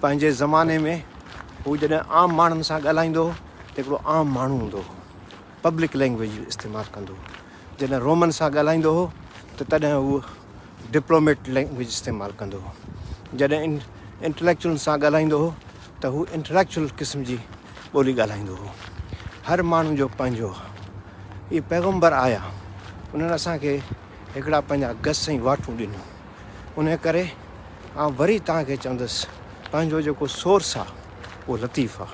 پنهنجي زماني ۾ هو جڏهن عام ماڻهن سان ڳالهائيندو هو ته هڪڙو عام ماڻهو هوندو هو پبلڪ لينگويج استعمال ڪندو هو جڏهن رومن سان ڳالهائيندو هو ته تڏهن هو ڊپلوميٽ لينگويج استعمال ڪندو هو جڏهن انٽليڪچوئلن سان ڳالهائيندو هو ته هو انٽليڪچوئل قسم جي ٻولي ڳالهائيندو هو هر ماڻهو جو پنهنجو هو اهي پيغمبر آيا انهن اسان کي هڪڙا پنهنجا گس ۽ واٽون ڏنو ان ڪري آئون وري توهان کي چوندس پنهنجو جيڪو سورس آ اهو لطيف آ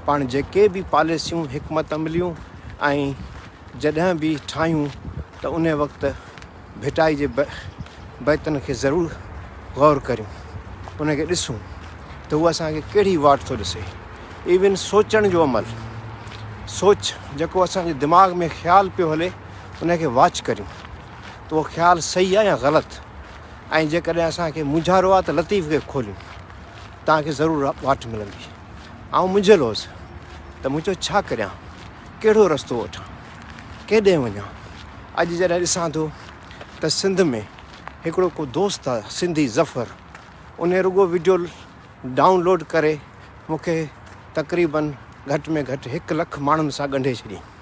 پاڻ جيڪي به پاليسيون حڪمت عمليون ۽ جڏهن به ٺاهيون ته ان وقت ڀٽائي جي بيتن کي ضرور غور ڪريون ان کي ڏسون ته هو اسان کي ڪهڙي واٽ ٿو ڏسي ايون سوچڻ جو عمل سوچ جيڪو اسان جي دماغ ۾ خيال پيو هلي ان کي واچ ڪريون ته اهو خيال صحيح آهي يا غلط ۽ جيڪڏهن اسان کي مونجهارو آهي ته لطيف کي کوليون توهان کي ضرور واٽ ملندي آئون منجهيل هوس ته مون چيو ڇا ڪريان ڪهڙو رستو وٺان ڪيڏانهن وڃان اڄ جڏهن ڏسان ٿو ته سنڌ ۾ هڪڙو ڪو دوست آهي سنڌي ظفر ان رڳو ويڊيو ڊائونلوڊ ڪري مون کي تقريبن گهٽ ۾ گهٽ هڪ لک ماڻهن سان ڳنڍي ڇڏيائين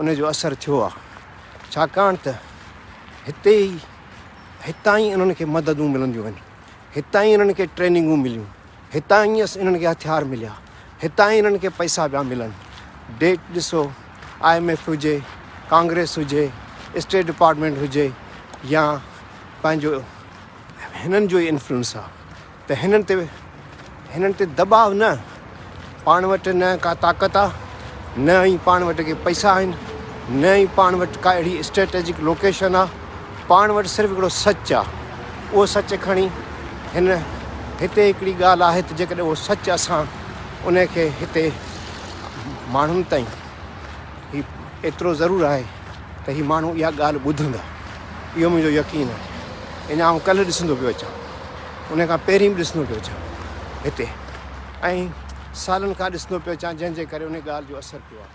ان جو اثر ٿيو آهي، ڇاڪاڻ ته هتي ئي هتان ئي انهن کي مددون ملنديون آهن، هتان ئي انهن کي ٽريننگون مليون، هتان ئي انهن کي هٿيار مليا، هتان ئي انهن کي پئسا پيا ملن. ڊيٽ ڏسو، آء ايم ايف هجي، ڪانگريس هجي، اسٽيٽ ڊپارٽمينٽ هجي يا پنهنجو هنن جو ئي انفلوئنس آهي. ته هنن تي هنن تي دٻاء نه پاڻ وٽ نه ڪا طاقت آ نه ئي پاڻ وٽ ڪي پئسا آهن نه ئي پاڻ وٽ ڪا اهڙي اسٽريٽجڪ لوڪيشن آ پاڻ وٽ صرف هڪڙو سچ آ اهو سچ کڻي هن هتي هڪڙي ڳالهه آهي ته جيڪڏهن اهو سچ اسان ان کي هتي ماڻهن تائين هي ايترو ضرور آهي ته هي ماڻهو اها ڳالهه ٻڌندا، اهو منهنجو يقين آهي. اڃا آئون ڪلهه ڏسندو پيو اچان، ان کان پهرين به ڏسندو پيو اچان هتي ۽ سالن کان ڏسندو پيو اچان، جنهن جي ڪري ان ڳالهه جو اثر پيو آهي.